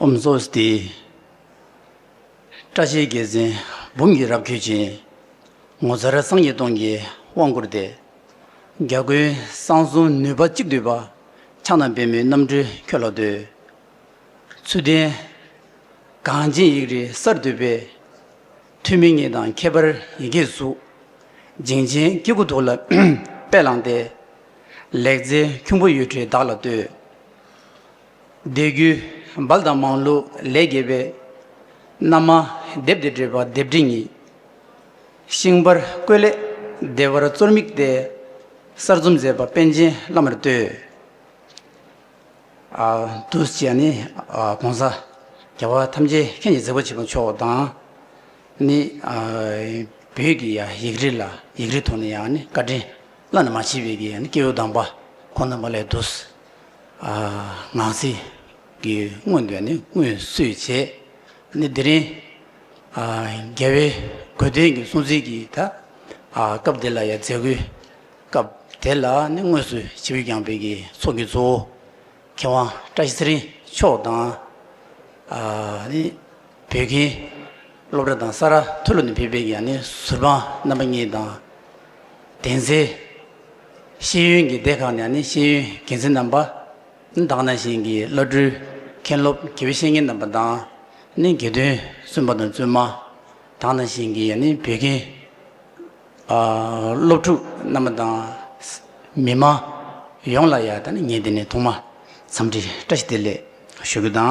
ཨུམ་བཟོ་སྟེ། སྐྲ་ཆལ་རྒྱལ་མཚན་འབུམ་གྱིས་རབ་འཁྱུད་ཅིང། ངོ་མཚར་སངས་རྒྱས་སྟོང་གིས་དབང་བསྐུར་ཏེ། རྒྱ་རྒོད་གསང་གསུམ་ནུས་པ་གཅིག་བསྡུས་པ། ཕྱག་ན་པད་མོའི་རྣམ་འཕྲུལ་ཁྱོད་ལ་བསྟོད། ཚུལ་ལྡན་གངས་ཅན་ཡིག་རིགས་གསར་བཏུད་པའི། ཐུགས་མི་མཉེས་དང་ཁྱད་པར་ཡི་གེའི་གཟུགས། འཇིང་ཆེན་སྐྱེ་རྒུ་ཐུགས་ལ་དཔལ་བླངས་ཏེ། ལེགས་མཛད་ཁྱུང་པོ་གཡུ་ཁྲི་བདག་ལ་བསྟོད། འདས་རྒྱུའི་འབལ་དང་མང་ལུགས་ལས་རྒྱལ་བའི། རྣམ་མང་སྡེབ་སྡེ་སྤྲོས་པ་སྡེབ་འདྲེ་ཉིད། ཤིང་དཔར་བརྐོས་ལས་བདེ་བར་གཙོར་དམིགས་ཏེ། གསར་རྩོམ་མཛད་པ་པཎ་ཆེན་བླ་མར་བསྟོད། བདུད་བཞི་ནི་གོང་ས་རྒྱལ་བ་ཐམས་ཅད་མཁྱེན་གྱི་མཛད་པོ་བྱེད་པ་མཆོག་དང། ནི་བོད་ཀྱི་ཡིག་རིགས་ལ་ཡིག་རིགས་ཐོག་ནས་ཡང་ནི་བཀའ་དྲིན་བླ་ན་མ་མཆིས་པའི་ཀྱི་ཡང་ནི་སྐྱེས་བུ་དམ་པ་ཁོང་རྣམ་པ་ལས་བདུད། ནང་གསེས་ཀྱི་སྔོན་འདོན་ནི་སྔོན་བསུས་བྱས་ནི་དེ་རིང་རྒྱལ་བའི་གོས་སྟོན་གྱི་སྲུང་བརྩི་གྱི་ཐ་སྐབས་དེ་ལ་ཡང་མཛད་སྒོའི་སྐབས་དེ་ལ་ནི་དངོས་སུ་ཕྱི་བོད་རྒྱང་འཕེལ་གྱི་ཚོགས་ཀྱི་གཙོ་བོ་མཁས་དབང་བཀྲ་ཤིས་ཚེ་རིང་མཆོག་དང་ནི་བོད་ཁྱིམ་སློབ་གྲྭ་དང་ས་རཱ་ཐོལ་ལོ་ནས་ཕེབས་པའི་ཡང་ནི་ཟུར་དཔང་རྣམ་པ་གཉིས་དང་གདན་སའི་ཤེས་ཡོན་གྱི་སྡེ་ཁག་ནས་ནི་ཤེས་ཡོན་གལ་ཆེན་རྣམ་པ་དག་ན་བཞིན་གྱི་བླ་སྤྲུལ་མཁན་སློབ་དགེ་བའི་བཤེས་གཉེན་རྣམ་པ་དང་ནི་དགེ་འདུན་བཙུན་པ་དང་བཙུན་མ་དག་ན་བཞིན་གྱི་ནི་བོད་དགེ་སློབ་ཕྲུག་རྣམ་པ་དང། མི་དམངས་ཡོངས་ལ་ཡང་ད་ནི་ངས་འདི་ནས་ཐོག་མ་འཚམས་འདྲི་བཀྲ་ཤིས་བདེ་ལེགས་ཞུ་རྒྱུ་དང།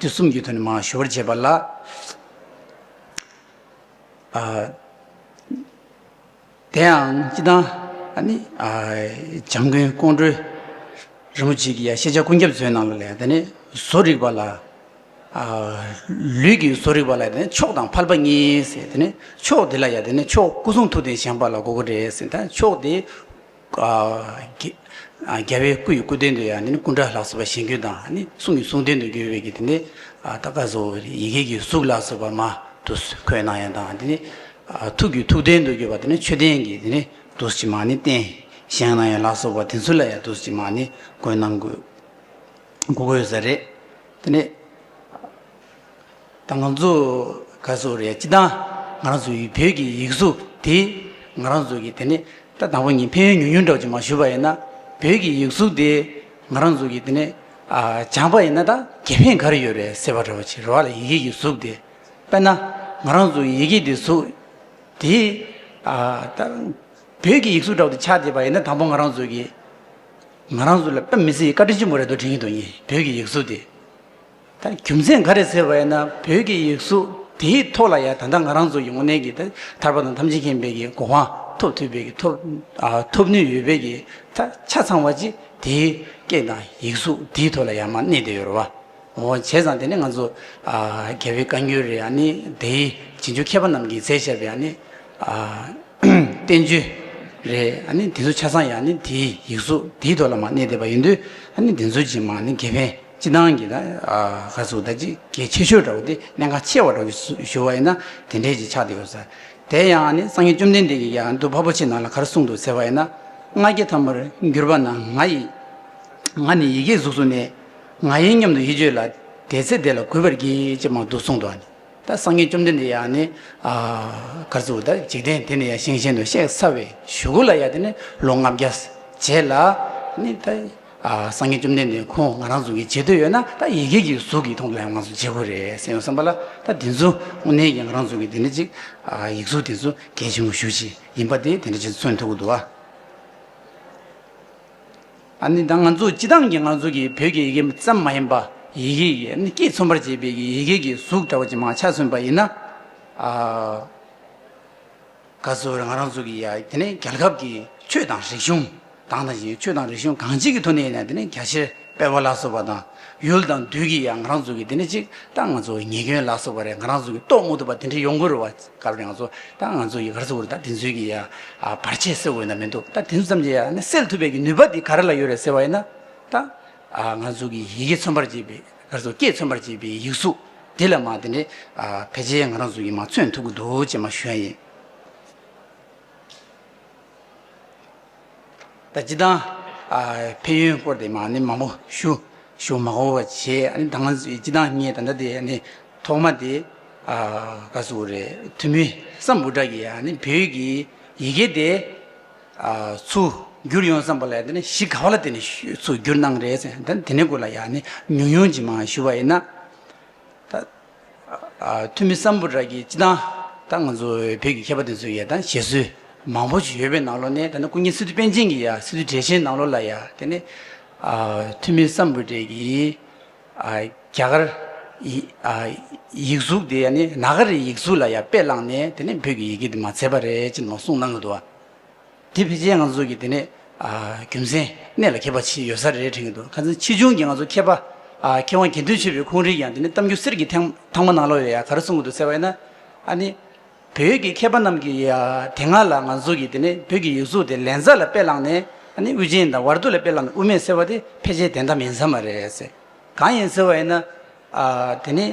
དུས་གསུམ་གྱི་དོན་ནི་མ་ཞུ་བར་བྱེད་པ་ལ། དེའང་ཅི་ལྟར་ནི། བྱམས་མགོན་ཀོང་སྤྲུལ་རིན་པོ་ཆེ་ཀྱི་ཤེས་བྱ་ཀུན་ཁྱབ་མཛོད་ནང་ལ་ལས་དེ་ནི་བཟོ་རིག་པ་ལ། ལུས་ཀྱི་བཟོ་རིག་པ་ལ་མཆོག་དང་ཕལ་པ་གཉིས། མཆོག་དེ་ལ་ཡང་མཆོག་སྐུ་གསུང་ཐུགས་ལྡན་ཞིང་པ་ལ་གོ་དགོས་རེད། མཆོག་དེ། རྒྱལ་བའི་སྐུ་ཡི་སྐུ་སྟེང་དུ་ཡང་ནི་ཀུན་དགའ་ལྷག་བསམ་པ་བཞེངས་གྱུར་དང་ནི་གསུང་གི་གསུང་སྟེང་དུ་གྱུར་པའི་དེ་ནི་ཏཱ་ཀ་ཟོ་ཡི་གེ་ཀྱི་གཟུགས་ལ་སོགས་པ་མ་དུ་འཁོད་སྣང་ཡང་དང་དེ་ནི་ཐུགས་ཀྱི་ཐུགས་སྟེང་དུ་གྱུར་པ་དེ་ནི་མཆོད་རྟེན་གྱི་དེ་ནི་དུ་ཕྱི་མ་ནི་རྟེན་བཞེངས་སྣང་ཡང་ལ་སོགས་པ་དེ་ཚུལ་ལ་ཡང་དུ་ཕྱི་མ་ནི་འཁོད་སྣང་གུ་གུ་གོས་ཟེར་རེད་དེ་ནི། ད་ང་ཚོ་ག་ཚོད་རེད་སྤྱི་དང་ང་རང་ཚོ་ཡི་བོད་ཀྱི་ཡིག་གཟུགས་དེ་ང་རང་ཚོ་གི་དེ་ནས་ད་དང་པོ་ཉིན་ཕན་ཡོན་ཉུང་ཉུང་འདྲ་བ་ཅིག་མ་ཞུ་བ་ཡིན་ན་བོད་ཀྱི་ཡིག་གཟུགས་དེ་ང་རང་ཚོ་གི་དེ་ནས་སྦྱངས་པ་ཡིན་ན་ད་དགེ་ཕན་ག་རེ་ཡོད་རེད་ཟེར་བ་འདྲ་བ་ཅིག་རེད་བ་ལ་ཡི་གེ་ཡིག་གཟུགས་དེ་དཔེར་ན་ང་རང་ཚོ་ཡི་གེ་དེ་གཟུགས་དེ་ད་བོད་ཀྱི་ཡིག་གཟུགས་འདྲ་བ་དེ་ཆགས་བསྡད་པ་ཡིན་ན་དང་པོ་ང་རང་ཚོ་གི་ང་རང་ཚོ་ལ་དཔེ་མི་སྲིད་བཀའ་དྲིན་ཆེན་པོ་རེད་དོ་དྲན་གྱི་འདུག་ཉིན་བོད་ཀྱི་ཡིག་གཟུགས་དེ། ད་རྒྱུ་མཚན་ག་རེ་ཟེར་བ་ཡིན་ན་བོད་ཀྱི་ཡིག་གཟུགས་དེའི་ཐོག་ལ་ཡང་ད་ལྟ་ང་རང་ཚོ་ཡོང་གནས་ཀྱི་ད་ཐར་པ་དང་ཐམས་ཅད་མཁྱེན་དཔལ་གྱི་གོ་འཕང་ཐོབ་ཐུབ་དཔལ་གྱི་ཐོབ་ཨ་ཐོབ་ནུས་ཡོད་དཔལ་གྱི་ད་ཆ་ཚང་བ་ཅི་དེའི་སྐད་དང་ཡིག་གཟུགས་དེའི་ཐོག་ལ་ཡང་མ་གནས་དེ་ཡོད་རེད་བ། འོ་བྱས་ཙང་དེ་ནི་ང་ཚོ་ཨ་རྒྱལ་བའི་བཀའ་འགྱུར་རེད་ཨ་ནི་དེའི་རྗེས་འཇུག་མཁས་པ་རྣམས་ཀྱིས་མཛད་བཞག་པའི་ཨ་ནི་ཨ་བསྟན་བཅོས་རེད་ཨ་ནི་དེ་ཚོ་ཆ་ཚང་ཡང་ནི་དེའི་ཡིག་གཟུགས་དེའི་ཐོག་ལ་མ་གནས་དེ་བ་ཡིན་དུས་ཨ་ནི་དེ་ཚོ་ཅིས་མ་ནི་དགེ་ཕན། སྤྱི་བཏང་གི་ནང་ག་ཚོད་ད་ཅི་གལ་ཆེ་ཤོས་འདྲ་བོ་དེ་གནད་འགག་ཆེ་བ་འདྲ་བོ་ཞུ་བ་ཡིན་ན་དེ་འདྲའི་ཅིག་ཆགས་དེ་ཡོད་ས་དེ་ཡང་ནི་སངས་རྒྱས་བཅོམ་ལྡན་འདས་ཀྱིས་ཀྱང་འདུལ་བ་པོ་ཆེ་ནང་ལ་གར་གསུངས་འདུག་ཟེར་བ་ཡིན་ན་སྔགས་རྒྱལ་ཐ་མར་འགྱུར་བ་ན་ང་ཡི་ང་ནི་ཡི་གེའི་གཟུགས་སུ་གནས་ང་ཡིན་སྙམ་དུ་ཡིད་བརྗོད་ལ་དེའི་ཚེ་དེ་ལ་གུས་པར་གྱིས་ཅེས་མང་དུ་གསུངས་འདུག་ནི་ད་སངས་རྒྱས་བཅོམ་ལྡན་འདས་ཡང་ནི་ག་ཚོད་ད་འཇིག་རྟེན་དེ་ནས་ཡང་ཞིང་གཞན་དུ་གཤེགས་ས་བའི་གཞུག་གུ་ལ་ཡང་དེ་ནི་ལོ་ལྔ་བརྒྱ་བྱས་ལ་ནི་ད། སངས་རྒྱས་བཅོམ་ལྡན་འདས་ཁོང་ང་རང་གཟུགས་ཀྱི་བྱེད་འདོད་ཡོད་ན་ད་ཡི་གེ་གི་གཟུགས་ཀྱིས་མཐོང་དུ་ཡང་ང་ཚོ་བྱེད་དགོས་རེད་སེམས་ཡོ་བསམ་པ་ལ་ད་དེ་ཚོ་དངོས་གནས་ཀྱི་ང་རང་གཟུགས་ཀྱི་དེ་འདྲ་ཅིག་ཡིག་གཟུགས་དེ་ཚོ་གལ་ཆེན་པོ་ཞུ་ཅིག་ཡིན་པ་དེ་དེ་འདྲ་ཅིག་མཚོན་ཐུབ་ཀྱི་འདུག་ཨ་ནི་ད་ང་ཚོ་སྤྱི་བཏང་གི་ང་ཚོ་གི་བོད་ཀྱི་ཡི་གེ་ཙམ་མ་ཡིན་པ་ཡི་གེ་ཡི་སྐད་མཚོན་པར་བྱེད་པའི་ཡི་གེ་གི་གཟུགས་འདྲ་བ་ཅིག་མ་ཆགས་མཚོན་པ་ཡིན་ན་ཨ། བཀའ་ཟུར་ང་རང་ཚུགས་ཀྱི་ཡ་དེ་ནི་རྒྱལ་ཁབ་ཀྱི་ཆོས་དང་རིག་གཞུང་དང་དང་ཞིང་ཆོས་དང་རིག་གཞུང་གང་ཅིག་གི་ཐུགས་ནས་ཡིན་ན་དེ་ནི་རྒྱ་ཆེར་སྤེལ་བ་ལ་སོགས་པ་དང་ཡུལ་དང་དུས་ཀྱི་ཡ་ང་རང་ཚུགས་ཀྱི་དེ་ནི་གཅིག་ད་ང་ཚོ་ཉེས་སྐྱོན་ལ་སོགས་པ་རེ་ང་རང་ཚུགས་ཀྱི་རྟོགས་མ་ཐུབ་པ་དེ་འདྲ་ཡོང་གི་རུ་བ་སྐབས་རེ་ང་ཚོ་ད་ང་ཚོ་ཡི་གར་ཚུགས་ཀྱི་རུ་ད་དེ་ཚུལ་གྱི་ཡ་བར་ཆད་སེལ་འོས་ན་མི་འདུག་ད་དེ་ཚུལ་ཙམ་གྱི་ཡ་ནི་སེལ་ཐུབ་པའི་གི་ནུས་པ་དེ་ག་རེ་ལ་ཡོད་རེད་ཟེར་བ་ཡིན་ན་ད་ང་ཚུགས་ཀྱི་ཡི་གེ་མཚོན་པར་བྱེད་པའི་ལར་སོ་སྐྱེས་མཚོན་པར་བྱེད་པའི་ཡིག་གཟུགས་དེ་ལ་མ་དེ་ནས་ཕལ་ཆེར་ང་རང་གཟུགས་ཀྱིས་མ་མཚོན་ཐུབ་ཀྱི་འདུག་ཅེས་མ་ཞུ་ཡ་ཡིན། ད་སྤྱི་དང། ཕན་ཡོན་སྐོར་དེ་མ་ནི་མང་པོ་ཞུ་ཞུ་མ་གོ་བ་བྱེད་ད་ང་ཚོའི་སྤྱི་དང་ངས་ད་ལྟ་དེ་ནི་ཐོག་མ་དེ་ག་ཟུག་རེད་ཐུ་མི་ས་འབུ་དག་གིས་ཡ་ནི་བོད་ཀྱི་ཡི་གེ་དེ། ཚུར་བསྒྱུར་ཡོང་བསམ་པ་ལས་དེ་ནས་གཞི་ག་བ་ལ་བརྟེན་ནས་ཚུར་བསྒྱུར་གནང་རེད་ཟེར་ན་དེ་ནས་དགོས་ལ་ཡང་ནི་ཉུང་ཉུང་ཅིག་མང་ཞུ་བ་ཡིན་ན། ད་འཐུས་མི་བསམ་བོ་ར་གིས་སྤྱི་བཏང་ད་ང་ཚོ་བོད་ཀྱི་མཁས་པ་དེ་ཚོ་ཡ་ད་བཞེད་སྲོལ་མང་བོ་ཞིག་ཡོད་པའི་ནང་ལོ་ནས་ད་ནི་སྐུ་ཉིད་སི་ཏུ་པཎ་ཆེན་གྱི་ཡ་སི་ཏུ་གྲས་ཆེན་ནང་ལོ་ལ་ཡ་དེ་ནས་འཐུས་མི་བསམ་བོ་རེ་གིས། རྒྱ་གར་ཡིག་གཟུགས་དེ་ནི་ནཱ་ག་རའི་ཡིག་གཟུགས་ལ་ཡང་དཔེ་བླངས་ནས་དེ་ནི་བོད་ཀྱི་ཡི་གེ་དེ་མ་མཛེས་པ་རེད་ཅེས་ནང་གསུངས་གནང་གི་འདུག་བ། དེ་ཕལ་ཆེར་ང་ཚོ་གི་དེ་ནི་རྒྱུ་མཚན་གནད་ལ་འཁེལ་པ་ཞིག་ཡོད་ས་རེད་དྲན་གྱི་འདུག་ཁ་ཚང་ཕྱིས་འབྱུང་གི་ང་ཚོ་མཁས་པ། མཁས་དབང་དགེ་འདུན་ཆོས་འཕེལ་ཁོང་རིགས་ཀྱང་དེ་ནི་གཏམ་རྒྱུད་གསེར་གྱི་ཐང་མ་ནང་ལོགས་ཡོད་ཡ་ག་རུ་གསུངས་གི་འདུག་ཟེར་བ་ཡིན་ན། ཨ་ནི། བོད་ཀྱི་མཁས་པ་རྣམས་ཀྱིས་དེ་སྔ་ལ་ང་ཚོ་གིས་དེ་ནས་བོད་ཀྱི་ཡིག་གཟུགས་དེ་ལན་ཚྭ་ལ་དཔེ་བླངས་ནས་དབུ་ཅན་དང་ཝར་དུ་ལ་དཔེ་བླངས་ནས་དབུ་མེད་ཟེར་བ་དེ་ཕལ་ཆེར་དེ་འདྲ་མིན་ས་མ་རེད་ཟེར། གང་ཡིན་ཟེར་བ་ཡིན་ན། དེ་ནི་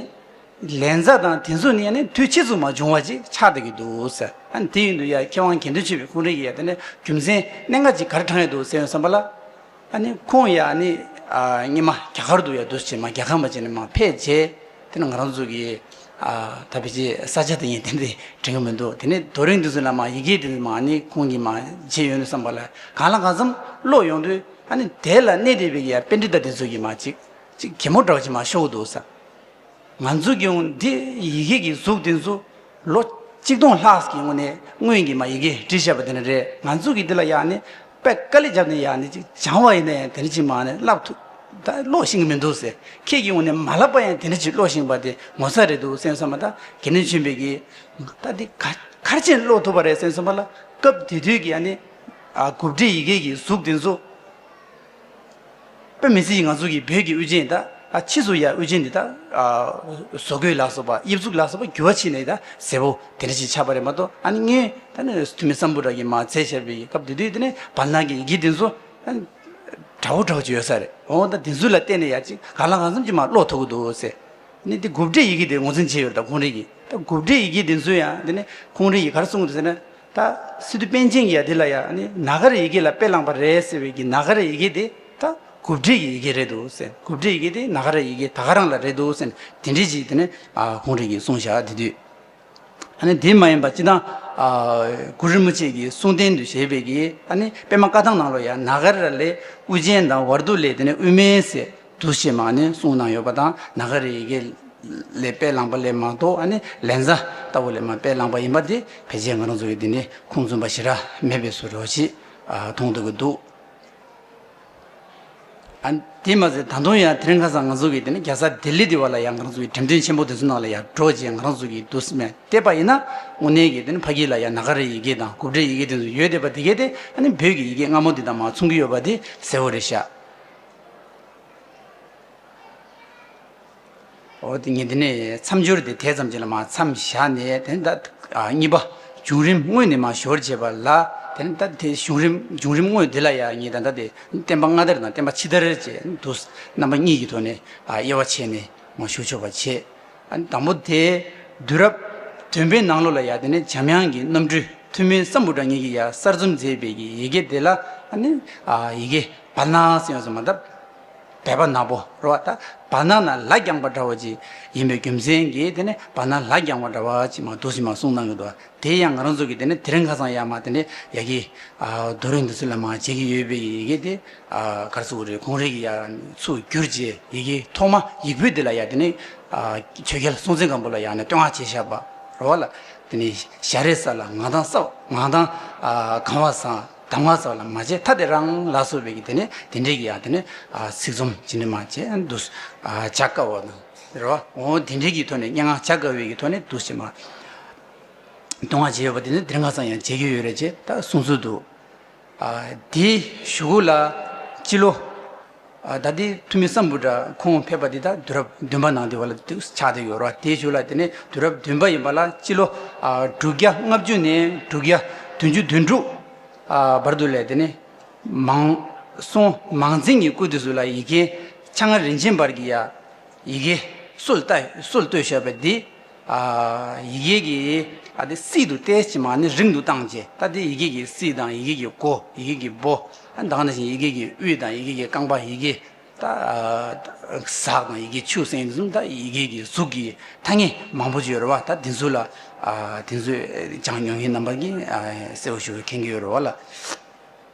ལན་ཚྭ་དང་དེ་ཚོ་ནི་དུས་ཕྱིས་སུ་མ་བྱུང་བ་ཅིག་ཆགས་བསྡད་ཀྱི་འདུག་ཟེར། དེ་ཡིན་དུས་མཁས་དབང་དགེ་འདུན་ཆོས་འཕེལ་ཁོང་རེ་ཡིས་དེ་ནས་རྒྱུ་མཚན་གནད་འགག་ཅིག་གར་དྲངས་ཡོད་འདུག་ཟེར་བའི་བསམ་པ་ལ། ཨ་ནི་ཁོང་ཡ་ནི་སྙེ་མ་རྒྱ་གར་དུ་ཡ་འདུ་བྱེད་མ་རྒྱ་གར་མ་བྱེད་ནི་མ་ཕེད་རྗེས་དེ་ནི་ང་རང་ཚོ་གི་ད་བེད་ཀྱི་ས་ཆ་དེ་ཡིན་དེ་ནི་དྲན་གི་མི་འདུག་དེ་ནི་དོ་རིང་དེ་ཚོ་ལ་མ་ཡི་གེ་དེ་ཚོ་མ་ནི་ཁོང་གི་མ་བྱེད་ཡོད་ནི་བསམ་པ་ལ་གང་ལ་གང་འཚམ་ཀློག་ཡོང་དུས་ཨ་ནི་དེ་ལ་གནས་དེ་བེད་ཀྱི་ཡ་དཔེ་འདི་ད་དེ་ཚོ་གི་མ་ཅིག་ཅིག་གེ་མོ་འདྲ་བ་ཅིག་མ་ཤོག་གི་འདུག་ས། ང་ཚོས་ཀྱང་འདི་ཡི་གེ་ཀྱི་གཟུགས་འདི་ཚོ་ལོ་གཅིག་སྟོང་ལྷག་གི་སྔོན་ནས་སྔོན་གྱི་མ་ཡི་གེ་བྲིས་བཞག་པ་དེ་ནི་རེད་ང་ཚོས་ཀྱི་འདི་ལ་ཡང་ནི་པད་དཀར་ལས་རྒྱབ་ནས་ཡང་ནི་ཅིག་སྦྱང་བ་ཡིན་ན་ཡང་དེ་འདྲ་ཅིག་མ་ནི་བསླབ་ཐུབ་ད་ཀློག་ཤེས་ཀྱི་མི་འདུག་ཟེར་ཁྱེད་ཀྱིས་ངོ་ནས་མ་བསླབ་པ་ཡང་དེ་འདྲ་ཅིག་ཀློག་ཤེས་པ་དེ་ངོ་ཚ་རེད་འདུག་སེམས་གསོ་མ་ད་དགེ་འདུན་ཆེན་པོས་ཀྱི་ད་འདི་ག་གར་ཕྱིན་ཀློག་ཐུབ་པ་རེད་སེམས་གསོ་མ་ལ་སྐབས་དེ་དུས་ཀྱི་ཡང་ནི་གུབ་བྲིས་ཡི་གེ་ཀྱི་གཟུགས་འདི་ཚོ། པོད་མི་ཚེ་ཡིས་ང་ཚོ་གི་བོད་ཀྱི་དབུ་ཅན་དག་ཨ་ཕྱིས་སུ་ཡང་དབུ་ཅན་འདི་དག་བཟོ་དགོས་ལགས་སོ་པ་དབྱིབས་གཟུགས་ལགས་སོ་པ་འགྱུར་བ་ཕྱིན་ནས་དང་ཟེ་བོ་དེ་འདྲ་ཞིག་ཆགས་པ་རེད་མ་གཏོགས་ཨ་ནི་ངའི་ད་ནི་ཐུ་མི་སམ་བུ་ར་གི་མ་ཚད་ཆེར་བའི་སྐབས་དེ་དུས་དེ་ནས་བར་སྣང་གི་ཡི་གེ་འདི་ཚོ་དྲ་བོ་དྲ་བོ་ཅིག་ཡོད་ས་རེད་འོང་ད་འདི་ཚོ་ལ་བལྟས་ནས་ཡ་ཅིག་གང་ལ་གང་འཚམ་ཅིག་མ་ཀློག་ཐུབ་ཀི་འདུག་ཟེར་ནས་དེ་དགུ་སྒྲའི་ཡི་གེ་དེ་ངོ་ཚན་བྱས་ཡོད་རེད་ད་ཁོང་རེ་གིས་ད་དགུ་སྒྲའི་ཡི་གེ་འདི་ཚོ་ཡང་དེ་ནས་ཁོང་རེ་ཡིས་ག་རེ་གསུངས་ཟེར་ན་ད་སི་ཏུ་པན་ཆེན་གྱིས་འདི་ལ་ཡང་ནི་ན་ག་རའི་ཡི་གེ་ལ་དཔེ་བླངས་པ་རེད་ཟེར་བའི་གི་ན་ག་རའི་ཡི་གེ་དེ་ད་གུབ་བྲིས་ཀྱི་ཡི་གེ་རེད་འདུག་ཟེར་གུབ་བྲིས་ཡི་གེ་དེ་ན་ག་རའི་ཡི་གེ་ད་ག་རང་ལ་རེད་འདུག་ཟེར་དེ་འདྲི་གཅིག་དེ་ནས་གུང་རིགས་ཀྱི་གསུང་བཤད་དེ་དུས་ཨ་ནི་དེ་མ་ཡིན་པ་སྤྱི་དང། གུ་རུ་མི་ཆེ་གི་གསུང་རྟེན་དུ་བཞེས་པའི་གི་ཨ་ནི་པད་མ་བཀའ་ཐང་ནང་ལོ་ཡང་ན་ག་ར་ལས་དབུ་ཅན་དང་བར་དུ་ལས་དེ་ནས་དབུ་མའི་ཟེར། འདུ་ཤེས་མ་ནི་གསུང་ན་ཡོད་པ་དང་ནཱ་ག་རེ་ཡི་གེ་ལས་དཔེ་བླངས་པ་ལས་མ་གཏོགས་ནི་ལན་ཚྭ་ལྟ་བུ་ལས་མ་དཔེ་བླངས་པ་ཡིན་པ་དེ་ཕལ་ཆེར་ང་རང་ཚོ་ཡི་དེ་ནི་ཁུངས་བཙུན་པ་ཞེ་དྲག་མེད་པས་སུ་རོ་ཞེས་མཐོང་ཐུབ་ཀྱི་འདུག་དེས་མ་ཟད་ད་དུང་ཡང་དེར་ཁ་སང་ང་ཚོ་ཡི་དེ་ནི་རྒྱལ་ས་ལྡི་ལི་དེ་བ་ལ་ཡང་ང་རང་ཚོ་ཡི་དྲན་རྟེན་ཆེན་པོ་དེ་ཚོ་ནང་ལ་ཡང་འགྲོ་ཅེས་ང་རང་ཚོ་ཡི་འདུ་སྨད་བལྟས་པ་ཡིན་ན་དངོས་གནས་ཀྱི་དེ་ནི་ཕ་གི་ལ་ཡང་ནཱ་ག་རེ་ཡི་གེ་དང་གུབ་སྒྲའི་ཡི་གེ་དེ་ཚོ་ཡོད་བསྡད་པ་དེ་གས་ཏེ་ནི་བོད་ཀྱི་ཡི་གེ་སྔ་མོ་དེ་དང་མ་མཚུངས་ཀྱི་ཡོད་པ་དེ་གསལ་བོ་རེད་ཤག། ཉིན་དེ་ནས་མཚམས་སྦྱོར་དེ་དེ་ཙམ་གྱིས་ལ་མ་མཚམས་བཞག་ནས་དེ་ནས་ད། གཉིས་པ། བྱུང་རིམ་དངོས་ནས་མ་ཞོར་བྱས་པ་ལ་དེ་ནས་ད་དེ་བྱུང་རིམ་བྱུང་རིམ་དངོས་དེ་ལ་ཡང་གཉིས་དང་ད་དེ་བསྟན་པ་སྔ་དར་དང་བསྟན་པ་ཕྱི་དར་བཅས་དུ་རྣམ་པ་གཉིས་ཀྱི་ཐོག་ནས་དབྱེ་བ་ཕྱེ་ནས་མ་ཞུགས་ཆོག་པ་བྱེད། དང་པོ་དེ། དུས་རབས་བདུན་པའི་ནང་ལོ་ལ་ཡ་དེ་ནས་འཇམ་དབྱངས་ཀྱི་རྣམ་སྤྲུལ་ཐུ་མི་ས་འབུ་དྲ་གཉིས་ཀྱིས་ཡ་གསར་རྩོམ་མཛེས་དཔལ་གྱི་ཡི་གེ་དེ་ལ་ནི་ཡི་གེ་བར་སྣང་ཟེར་ཡོང་ཟེར་མ་ད་བད་པ་ནག་པོ་རོ་བ་ད་བར་སྣང་ན་ལ་རྒྱངས་པ་འདྲ་བ་ཅིག་ཡིན་པའི་རྒྱུ་མཚན་གྱིས་དེ་ནི་བར་སྣང་ལ་རྒྱངས་བ་འདྲ་བ་ཅིག་མ་འདུག་ཟེར་མ་གསུངས་གནང་གི་འདུག་དེ་ཡང་ང་རང་ཚོ་གིས་དེ་ནི་དེ་རིང་ཁ་སང་ཡ་མ་དེ་ནས་ཡ་གི་རྡོ་རིང་འདི་ཚོ་ལ་མ་བྱེད་ཀྱི་ཡོད་དཔལ་གྱི་ཡི་གེ་དེ། གར་ཚུགས་རེ་གུང་རེ་ཡི་ཡར་ཚུགས་བསྒྱུར་བྱའི་ཡི་གེ་ཐོག་མ་ཡིག་བུ་འདི་ལ་ཡང་དེ་ནི་ཆོས་རྒྱལ་སྲོང་བཙན་སྒམ་པོ་ལ་ཡང་ནི་བསྟོད་བསྔགས་བྱེད་ཞགས་པ་རོལ་བ་ལ་དེ་ནི་ཞགས་རེ་ས་ལ་ངག་དང་སྲབ་ངག་དང་གང་བ་སང་གདམ་ངག་ས་ལ་མ་བྱེད་ཐ་དེ་རང་ལ་སོགས་པའི་དེ་ནི་དེ་འདྲའི་གི་ཡང་དེ་ནི་ཚིག་རྩོམ་ཇི་འདྲ་མ་བྱེད་འདུག་བྱ་དཀའ་བ་དང་རེ་བ་འོ་དེ་འདྲའི་གི་ཐོག་ནས་སྙན་ངག་བྱ་དཀའ་བའི་གི་ཐོག་ནས་འདུག་བྱེད་མ་བསྟོད་བསྔགས་བྱེད་ཡོད་པ་དེ་ནི་དེ་འདྲ་ངག་ཚང་ཡང་བྱེད་ཀྱི་ཡོད་རེད་ཅེས་ད་གསུངས་ཚུལ་འདུག། དེའི་ཞུ་གུ་ལ་སྤྱི་ལོ། ད་དེའི་ཐུ་མི་སམ་བུ་དྲ་ཁོང་ཕེབས་པ་དེ་དག་དུས་རབས་བདུན་པ་ནང་དེ་བ་ལ་ཆགས་འདི་ཡོད་ར་བ་དེའི་ཞུ་ལ་དེ་ནས་དུས་རབས་བདུན་པ་ཡིན་པ་ལ་སྤྱི་ལོ། དྲུག་བརྒྱ་ལྔ་བཅུ་ནས་དྲུག་བརྒྱ་དོན་བཅུ་དོན་དྲུག། བར་དུ་ལས་དེ་ནས། མང། སོང་མང་རྫིང་གི་སྐུ་དེ་སུ་ལ་ཡི་གེ། ཕྱག་ན་རིན་ཆེན་འབར་གྱི་ཡ། ཡི་གེ། སོལ་བཏོད་སོལ་བཏོད་ཞེས་པ་དེ། ཡི་གེ་ཀྱི་ཨ་དེ་སི་དུ་ཏའི་ཕྱི་མ་ནི་རིང་དུ་བཏང་རྗེས་ད་ལྟའི་ཡི་གེ་ཀྱི་སི་དང་ཡི་གེ་ཀྱི་ཀོ་ཡི་གེ་ཀྱི་པོ་དང་ན་བཞིན་ཡི་གེ་ཀྱི་དབུས་དང་ཡི་གེ་ཀྱི་རྐང་པ་ཡི་གེ་ཟག་དང་ཡི་གེ་ཆུ་སྲིན་གསུམ་དང་ཡི་གེ་ཀྱི་གཟུགས་ཀྱི་ཐ་སྙད་མང་པོ་བརྗོད་རོལ་བ་ད་དེ་ཚོ་ལ་དེ་ཚོས་ཅང་ཉོན་ངེས་རྣམ་པར་གྱིས་གསལ་བོ་ཞུ་བའི་ཁེངས་ཀྱི་ཡོད་རོལ་བ་ལ།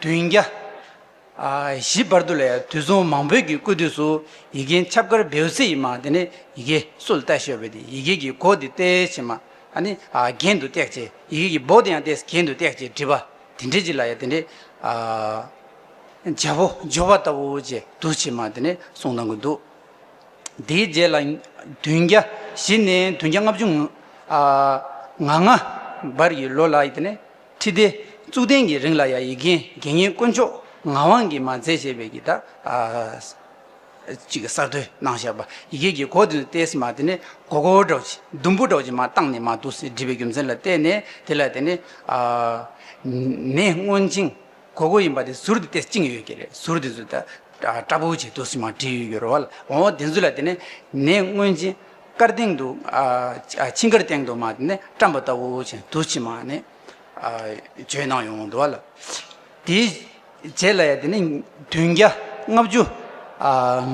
བདུན་བརྒྱ། བཞི། བར་དུ་ལས་དུས་བཟང་མང་བོད་ཀྱི་སྐུ་དུས་སུ་ཡི་གེའི་ཁྱབ་དཀར་བེའུ་ཚེ་ཡི་མ་དེ་ནས་ཡི་གེ་སུ་ལ་གཏད་ཤོད་བས་ཏེ་ཡི་གེ་ཀྱི་སྒོ་དེ་གཏད་ཕྱིན་མ་ཨ་ནི་གྱེན་དུ་བཏེག་ཅེས་ཡི་གེ་ཀྱི་སྦོ་དེ་ཡང་གཏད་གྱེན་དུ་བཏེག་ཅེས་བྲིས་པ་དེ་འདྲེ་ཅི་ལ་ཡ་དེ་འདྲེ་རྒྱལ་པོ་འབྱོར་བ་ལྟ་བུ་ཅེས་དུ་ཕྱིན་མ་དེ་ནས་གསུང་གནང་གི་འདུག་དེའི་རྗེས་ལ་བདུན་བརྒྱ་བཞི་ནས་བདུན་བརྒྱ་ལྔ་བཅུ་ང་ལྔ་བར་གྱི་ལོ་ལ་ཡི་དེ་ནས། ཁྲི་ལྡེ། གཙུག་བརྟན་གྱི་རིང་ལ་ཡ་ཡི་རྒན་དགེ་བསྙེན་དཀོན་མཆོག་ངག་དབང་གིས་མ་མཛད་ཅེས་པའི་གྱི་ད་ཅིག་གསར་བཏོད་གནང་བཞག་པ་ཡི་གེ་ཀྱི་མགོ་དེ་ནས་ཏེས་མ་དེ་ནས་གོ་གོ་བྲོ་གཅིག་ཟླུམ་པོ་བྲོ་གཅིག་མ་བཏང་ནས་མ་དུ་སེ་འབྲི་བའི་རྒྱུ་མཚན་ལ་བལྟས་ནས་དེ་ལ་དེ་ནས་ནས་སྔོན་ཅིང། གོ་གོ་ཡིན་པ་དེ་ཟུར་དེ་ཏེ་བཅིངས་ཡོད་ཀྱི་རེད་ཟུར་དེ་ཚོ་ད་སྐྲ་བོ་ཆེ་དུ་སི་མ་བྲིས་ཡོད་ཀྱི་རོ་བ་ལ་འོ་དེ་ཚོ་ལ་དེ་ནས་ནས་སྔོན་ཆིན་དཀར་སྟེང་དུ་ཆིན་དཀར་སྟེང་དུ་མ་དེ་ནས་བཀྲམ་པ་ལྟ་བུ་ཆེན་དུ་སི་མ་ནས་བརྗོད་གནང་ཡོང་འདུག་བ་ལ་དེའི་རྗེས་ལ་ཡ་དེ་ནས་བདུན་བརྒྱ་ལྔ་བཅུ་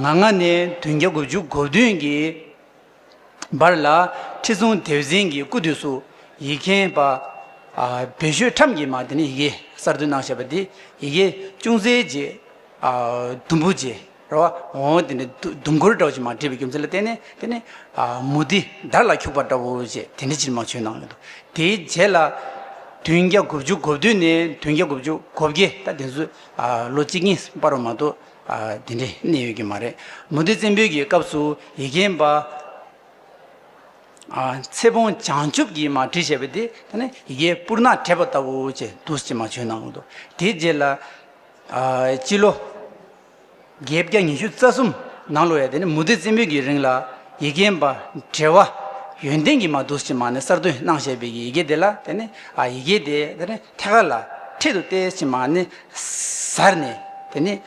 ང་ལྔ་ནས་བདུན་བརྒྱ་དགུ་བཅུ་གོ་བདུན་གྱི་འབར་ལ། ཁྲི་སྲོང་ལྡེའུ་བཙན་གྱི་སྐུ་དུས་སུ་ཡིག་མཁན་པདྨ་ཤོད་ཁྲམ་གྱིས་མ་དེ་ནས་ཡི་གེ་གསར་བཏོད་གནང་བྱས་པ་དེ་ཡི་གེ་ཅུང་ཟད་རྗེས་དུམ་བུ་རྗེ་ར་བ་འོང་དེ་ནས་དུམ་འཁོར་འདྲ་བོ་ཞིག་མ་བྲིས་པའི་རྒྱུ་མཚན་ལ་བརྟེན་ནས་དེ་ནས་མུ་ཏི་དར་ལ་འཁྱུག་པ་འདྲ་བོ་ཞེས་དེ་འདྲའི་ཕྱིར་མ་བྱོན་གནང་ཡོད་དོ། དེའི་རྗེས་ལ་བདུན་བརྒྱ་དགུ་བཅུ་གོ་བདུན་ནས་བདུན་བརྒྱ་དགུ་བཅུ་གོ་བརྒྱད་ད་དེ་ཚོས་ལོ་གཅིག་གཉིས་སྤར་བ་མ་གཏོགས་དེ་འདྲའི་གནས་ཡོད་ཀྱི་མ་རེད། མུ་ཏིག་བཙན་པོའི་གི་སྐབས་སུ་ཡི་གེན་པ། ཚེ་བོང་བྱང་ཆུབ་ཀྱིས་མ་བྲིས་བྱས་པ་དེ་ད་ནི་ཡི་གེ་སྤུར་ནག་བྲེས་པ་ལྟ་བུ་ཅེས་བསྡུ་ཅེས་མ་བྱོན་གནང་འདུག་དེའི་རྗེས་ལ། སྤྱི་ལོ། བརྒྱད་བརྒྱ་ཉི་ཤུ་རྩ་གསུམ་ནང་ལོ་ཡ་དེ་ནི་མུ་ཏིག་བཙན་པོའི་གི་རིང་ལ་ཡི་གེན་པ་བྲེ་བ་ཡོན་ཏན་གྱིས་མ་བསྡུ་ཅེས་མ་ནི་གསར་བཏོད་གནང་བྱས་པའི་གི་ཡི་གེ་དེ་ལ་དེ་ནི་ཡི་གེ་དེ་ད་ནི་ཐད་ཀར་ལ་འཕྲེད་དུ་བལྟས་ཅེས་མ་ནི། གཟར་ནས་དེ་ནས་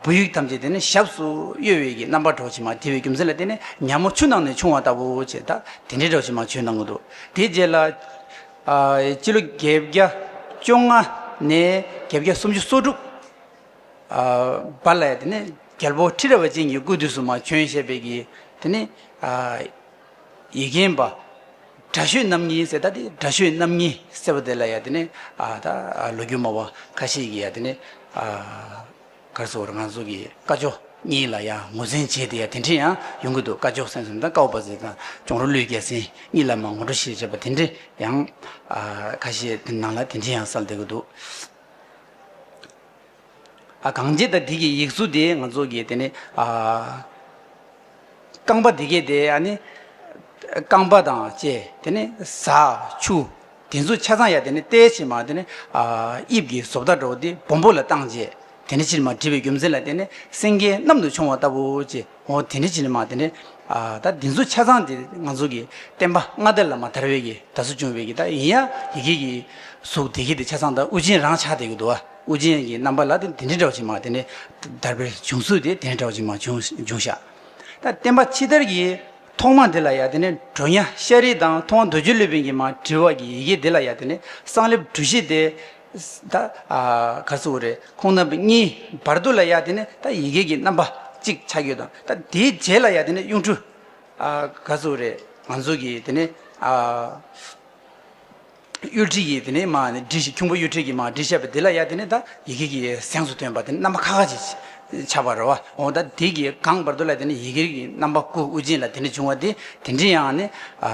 བུ་ཡུག་ཐམས་ཅད་དེ་ནས་ཞབས་སུ་གཡོ་བས་ཀྱི་རྣམ་པར་གྲོགས་བྱེད་མ་དེ་བས་རྒྱུ་མཚན་ལ་བརྟེན་ནས་ཉག་མོ་ཆུ་ནང་ནས་ཕྱུང་བ་ལྟ་བུ་ཅེས་དང་དེ་འདྲའི་གྲོགས་བྱེད་མ་ཆུའི་ནང་གི་འདུག་དེའི་རྗེས་ལ། སྤྱི་ལོ་བརྒྱད་བརྒྱ་བཅོ་ལྔ་ནས་བརྒྱད་བརྒྱ་སུམ་ཅུ་སོ་དྲུག། བར་ལ་ཡང་དེ་ནས་རྒྱལ་པོ་ཁྲི་རལ་བ་ཅན་གྱི་སྐུའི་དུས་སུ་མ་བྱོན་ཞེས་པས་ཀྱི་དེ་ནས། ཡི་གེན་པ། དགྲ་ཤོད་རྣམ་གཉིས་ཟེར་ད་དེ་དགྲ་ཤོད་རྣམ་གཉིས་ཟེར་བ་དེ་ལ་ཡ་དེ་ནས་ཨ་ད་ལོ་རྒྱུས་མ་བ་ཁ་ཤས་ཀྱིས་ཡ་དེ་ནས་ཨ། གར་སོ་བར་ང་ཚོ་གི་ཀ་ཅོ་གཉིས་ལ་ཡ་ངོ་ཟན་བྱས་ཏེ་ཡ་དེ་འདྲི་ཡང་ཡོང་གི་འདུག་ཀ་ཅོ་སེང་ཟེར་དང་ཀའོ་པ་ཟེར་དང་ཅོང་རོ་ལུས་རྒྱལ་སེང་གཉིས་ལ་མ་ངོ་འགྲོ་ཞེས་བྱ་བ་དེ་འདྲི་ཡང་ཨ། ཁ་ཤས་དེ་ནང་ལ་དེ་འདྲི་ཡང་གསལ་འདེགས་འདུག། གངས་རྗེ་དང་དེ་གི་ཡིག་གཟུགས་དེ་ང་ཚོ་གི་དེ་ནི་རྐང་པ་དེ་གའི་དེ་ཡ་ནི་རྐང་པ་དང་བཅས་དེ་ནི་བཟའ་ཆུ་དེ་ཚོ་ཆ་ཚང་ཡ་དེ་ནི་བལྟས་ཕྱིན་མ་དེ་ནི་དབྱིབས་ཀྱི་བཟོ་ལྟ་འགྲོ་བ་དེ་སྦོམ་པོ་ལ་བཏང་རྗེས་དེ་ནི་ཕྱིར་མ་བྲིས་པའི་རྒྱུ་མཚན་ལ་དེ་ནི་སེང་གེ་གནམ་དུ་མཆོང་བ་ལྟ་བུ་ཅི་འོ་དེ་ནི་ཕྱིར་མ་དེ་ནི་ད་དེ་ཚོ་ཆ་ཚང་དེ་ང་ཚོ་གི་བསྟན་པ་མངའ་བདག་བླ་མ་དར་བས་ཀྱི་ད་གཟུགས་བྱུང་བས་ཀྱི་ད་ཡིན་ཡ་ཡི་གེ་གི་གཟུགས་དེ་གའི་དེ་ཆ་ཚང་ད་དབུ་ཅན་རང་ཆགས་དེ་གི་འདུག་བ། དབུ་ཅན་གྱི་རྣམ་པ་ལ་དེ་འདི་འདྲ་བ་ཅིག་མ་དེ་ནི་བརྡར་པའི་བྱུང་ཚུལ་དེ་དེ་འདྲ་བ་ཅིག་མ་འབྱུང་འབྱུང་ཤག། ད་བསྟན་པ་ཕྱི་དར་གྱི་ཐོག་མ་དེ་ལ་ཡང་དེ་ནི་གྲོ་ཉ་ཤ་རི་དང་མཐོང་བ་འདོད་འཇོའི་ལུས་བེན་གྱི་མ་བྲི་བ་གྱི་ཡི་གེ་དེ་ལ་ཡང་དེ་ནི་གསང་ལེབ་གྲུ་བཞི་སྟེ། ད་ག་ཚོད་བོ་རེད་ཁོང་རྣམ་པ་གཉིས་བར་དོ་ལ་ཡང་དེ་ནི་ད་ཡི་གེ་གྱི་རྣམ་པ་གཅིག་ཆ་ཁྱོད་དང་ད་དེའི་རྗེས་ལ་ཡང་དེ་ནི་གཡུང་དྲུང། ག་ཚོད་རེད་ང་ཚོ་གི་དེ་ནི། གཡོ་དྲི་ཡིས་དེ་ནས་མ་ནི་དྲི་ཞིག་ཁྱུང་པོ་གཡོ་དྲི་གིས་མ་དྲི་བཤད་པ་འདི་ལ་ཡ་དེ་ནས་ད་ཡི་གེ་གིས་གཟེངས་སུ་ཐོན་པ་དེ་ནས་རྣམ་པ་ཁ་ཁ་ཅིག་ཆགས་པར་རོ་བ་འོ་ད་དེ་གིས་གང་བར་དོ་ལ་དེ་ནས་ཡི་གེ་གི་རྣམ་པ་སྐུ་དབུ་རྗེན་ལ་དེ་ནས་འབྱུང་བ་དེ་དེ་འདྲི་ཡང་ནི་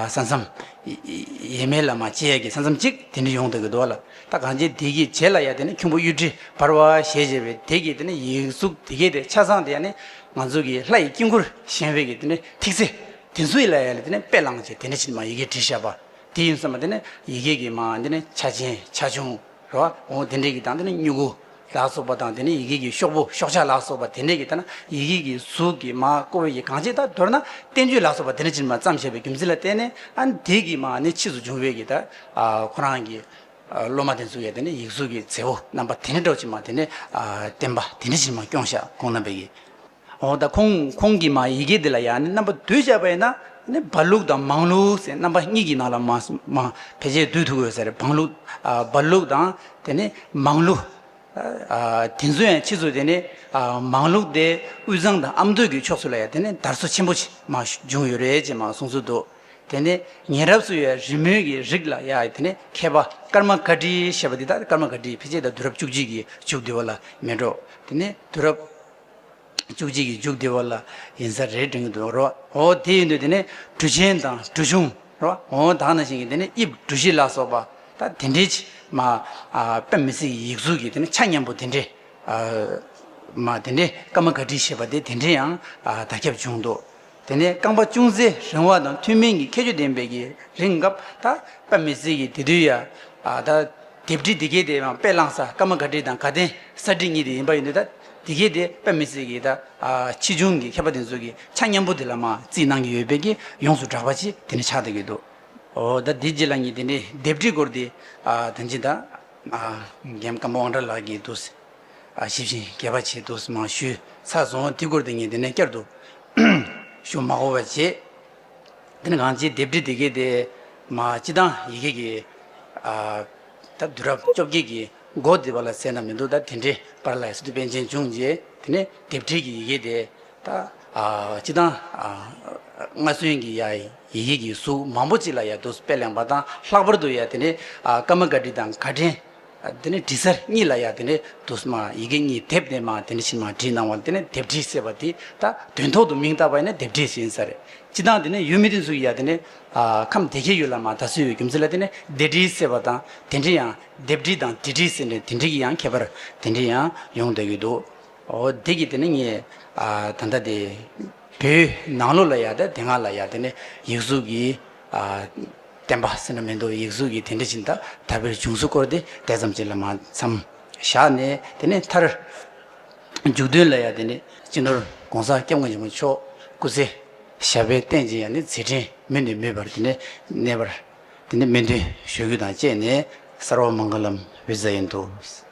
ས་མཚམས། ཡེ་མེ་ལ་མ་བཅད་ཀྱི་ས་མཚམས་གཅིག་དེ་འདྲི་ཡོང་དུ་གི་འདུག་ལ་ད་གང་བྱེད་དེ་གིས་བྱེད་ལ་ཡ་དེ་ནས་ཁྱུང་པོ་གཡོ་དྲི་འབར་བ་ཞེས་བྱས་པས་དེ་གིས་དེ་ནས་ཡིག་གཟུགས་དེ་གས་ཏེ་ཆ་ཚང་དེ་ཡ་ནི་ང་ཚོ་གི་ལྷ་ཡི་དཀྱིལ་འཁོར་གཞན་བས་ཀྱི་དེ་ནས་ཐིག་ཚེ་དེ་ཚོ་ཡི་ལ་ཡ་ལ་དེ་ནས་དཔེ་བླངས་བྱས་དེ་ནས་ཕྱིར་མ་ཡི་གེ་དྲི་བཤད་པ་དེ་ཡིན་སོགས་མ་འདི་ནི་ཡི་གེ་གི་མ་འདི་ནི་ཆ་ཆེན་ཆ་ཆུང་རེ་བ་འོང་དེ་འདྲས་ཀྱི་དང་དེ་ནི་སྨྱུ་གུ་ལ་སོགས་པ་དང་དེ་ནི་ཡི་གེ་གི་ཤོག་བུ་ཤོག་བྱ་ལ་སོགས་པ་དེ་འདྲས་ཀྱི་དང་ན་ཡི་གེ་གི་གཟུགས་ཀྱི་མ་ཀོ་བོད་ཀྱི་གང་ཅི་དག་མདོར་ན་བསྟན་བཅོས་ལ་སོགས་པ་དེ་འདྲས་ཅིར་མ་བརྩམས་ཞེས་པའི་རྒྱུ་མཚན་ལ་བརྟེན་ནས་ཨ་ནི་དེ་གི་མ་ནི་ཕྱིས་སུ་འབྱུང་བས་ཀྱི་དང་ཁོ་རང་གི་སློབ་མ་དེ་ཚོ་ཡང་དེ་ནི་ཡིག་གཟུགས་ཀྱི་མཛེས་པོ་རྣམ་པ་དེ་འདྲས་སྒྲོག་ཅིར་མ་དེ་ནི་བསྟན་པ་དེ་འདྲས་ཅིར་མ་སྐྱོང་ཤག་ཁོང་རྣམ་པས་ཀྱི། འོ་ད་ཁོང་ཁོང་གིས་མ་ཡི་གེ་འདི་ལ་ཡང་ནི་རྣམ་པ་བསྡུས་བྱས་པ་ཡིན་ན་ནི་བར་ལུགས་དང་མང་ལུགས་ཟེར་རྣམ་པ་གཉིས་ཀྱི་ནང་ལ་མ་མ་བེད་སྤྱད་བསྡུས་ཐུག་ཡོད་ཟེར་བང་ལུགས་བར་ལུགས་དང་དེ་ནི་མང་ལུགས་དེ་ཚོ་ཡང་ཕྱིས་སུ་དེ་ནི་མང་ལུགས་དེ་དབུས་གཙང་དང་ཨམ་མདོ་གི་ཕྱོགས་སུ་ལ་ཡང་དེ་ནི་དར་སོ་ཆེན་པོ་མ་བྱུང་ཡོད་རེད་ཅེས་མ་གསུངས་ཚུལ་འདུག་དེ་ནི་ཉེ་རབས་སུ་ཡོད་རི་མོའི་གི་རིགས་ལ་ཡང་དེ་ནི་མཁས་པ་ཀརྨ་དཀར་བཀྲིས་ཞེས་པ་འདི་དག་ཀརྨ་དཀར་བཀྲིས་ཕལ་ཆེར་དང་དུས་རབས་བཅུ་གཅིག་གི་བཅུ་བདུན་བ་ལ་མི་འགྲོ་དེ་ནི་དུས་རབས་བཅུ་གཅིག་གི་འཇུག་བདེ་བ་ལ་ཡིན་ས་རེད་དྲན་གྱི་འདུག་རོ་འོ་དེ་ཡིན་དུས་དེ་ནས་གྲུ་ཆེན་དང་གྲུ་ཆུང་རོ་འོ་དག་ན་བཞིན་གྱི་དེ་ནས་དབྱིབས་གྲུ་བཞི་ལ་སོགས་པ་ད་དེ་འདྲའི་ཆེ་མ་པད་མ་སི་ཡི་ཡིག་གཟུགས་ཀྱི་དེ་ནས་ཆ་མཉམ་པོ་དེ་འདྲའི་མ་དེ་འདྲའི་ཀ་མ་ག་ཏྲི་ཞེས་པ་དེ་དེ་འདྲའི་ཡང་ད་ཁྱབ་བྱུང་འདུག་དེ་ནས་རྐང་པ་ཅུང་ཟད་རིང་བ་དང་ཐུན་མིན་གྱི་ཁྱད་ཆོས་ལྡན་པའི་གྱི་རིང་སྐབས་ད་ཀ་མི་ཚིག་གི་དེ་དུས་ཡ། ད། དེབ་བྲིས་འདི་གའི་དེ་ཡང་དཔེ་བླངས་ས་སྐར་མ་ག་བྲིས་དང་ག་ལྡན་ས་བྲིས་གཉིས་དེ་ཡིན་པ་ཡིན་དུས་ད་འདི་གའི་དེ་ཀ་མི་ཚིག་གི་ད་ཕྱིས་བྱུང་གི་མཁས་པ་དེ་ཚོ་གི་ཆ་མཉམ་པོ་དེ་ལ་མ་བརྩིས་གནང་གི་ཡོད་པས་གྱི་ཡོངས་སུ་གྲགས་པ་ཅི་དེ་ནི་ཆགས་ཐུག་གི་འདུག་འོ་ད་དེ་རྗེས་ལ་ཉིད་དེ་འདྲའི་དེབ་བྲིས་སྐོར་དེ་ད་ཅི་ད། རྒན་བཀའ་འབོ་དབང་གྲགས་ལགས་ཀྱིས་འདུག། ཞིབ་ཅིང་དགེ་བ་ཆེད་དུ་མ་ཞུས་ཚར་སོང་དུས་འཁོར་དེ་ཉིད་དེ་ནས་བསྐྱར་དུ་ཞུ་མ་གོ་བར་བྱས། དེ་ནས་གང་ཅིའི་ལྡེབས་བྲིས་དེ་གའི་དེ་མ་སྤྱི་དང་ཡི་གེ་ཀྱི་ད་དུས་རབས་བཅོ་བརྒྱད་ཀྱི་འགོ་བརྩིས་པ་ལ་ཟད་ན་མི་འདུག་ད་དེ་འདྲའི་པར་ལ་ཟེར་དུས་པཎ་ཆེན་བྱུང་རྗེས་དེ་ནས་ལྡེབས་བྲིས་ཀྱི་ཡི་གེ་དེ་ད་སྤྱི་དང་སྔར་སོན་གྱི་ཡི་གེ་ཀྱི་གཟུགས་མང་པོ་ཅིག་ལ་ཡང་དུ་སྤེལ་གླེང་བ་དང་ལྷག་པར་དུ་ཡང་དེ་ནས་ཀརྨ་བཀའ་བྲིས་དང་བཀའ་དྲིན། དེ་ནས་བྲིས་ཚར་གཉིས་ལ་ཡང་དེ་ནས་དུ་སྨྲ་ཡི་གེ་གཉིས་དེབ་ནས་སྨྲ་དེ་ནས་ཕྱི་མ་བྲིས་གནང་བ་དེ་ནས་དེབ་བྲིས་ཟེར་བ་དེ་ད་དོན་ཐོག་ཏུ་མིང་བཏགས་པ་ཡིན་ན་དེབ་བྲིས་ཟེར་ཡིན་ས་རེད་སྤྱི་དང་དེ་ནས་ཡུལ་མི་དེ་ཚོ་ཡི་ཡང་དེ་ནས་ཁམས་སྡེ་བརྒྱད་ཡོད་ལ་མ་ད་གཟོད་ཡོད་རྒྱུ་མཚན་ལ་དེ་ནས་སྡེ་བྲིས་ཟེར་བ་དང་དེ་འདྲའི་ཡང་དེབ་བྲིས་དང་དེ་བྲིས་ཟེར་འདྲའི་དེ་འདྲའི་གི་ཡང་ཁྱད་པར་དེ་འདྲའི་ཡང་ཡོང་དགོས་ཀྱི་འདུག་འོ་དེ་གི་དེ་ནས་ངས་ད་ལྟ་དེ་བོད་ནང་ལུགས་ལ་ཡང་དེ་སྔ་ལ་ཡང་དེ་ནས་ཡིག་གཟུགས་ཀྱི་བསྟན་པ་སེམས་ན་མི་འདོར་ཡིག་གཟུགས་ཀྱི་དེ་འདྲ་ཅན་དག་དལ་བུས་བྱུང་ཚུལ་སྐོར་དེ་དེ་ཙམ་གཅིག་ལ་མ་འཚམ། བཞག་ནས་དེ་ནས་མཐར། མཇུག་དོན་ལ་ཡང་དེ་ནས་སྤྱི་ནོར ྋགོང་ས ྋསྐྱབས་མགོན་ཆེན་པོ་མཆོག་སྐུ་ཚེ་ཞབས་པད་བརྟན་ཅིང་ཡང་ནི་ཚེ་ཕྲེང་མུ་ནས་མུས་པར་དེ་ནས་གནས་པར། དེ་ནས་སྨོན་འདུན་ཞུ་རྒྱུ་དང་བཅས་ནས་སརྦ་མང་གི་ལམ་བུའི་མཛད་ཡུལ་དུ།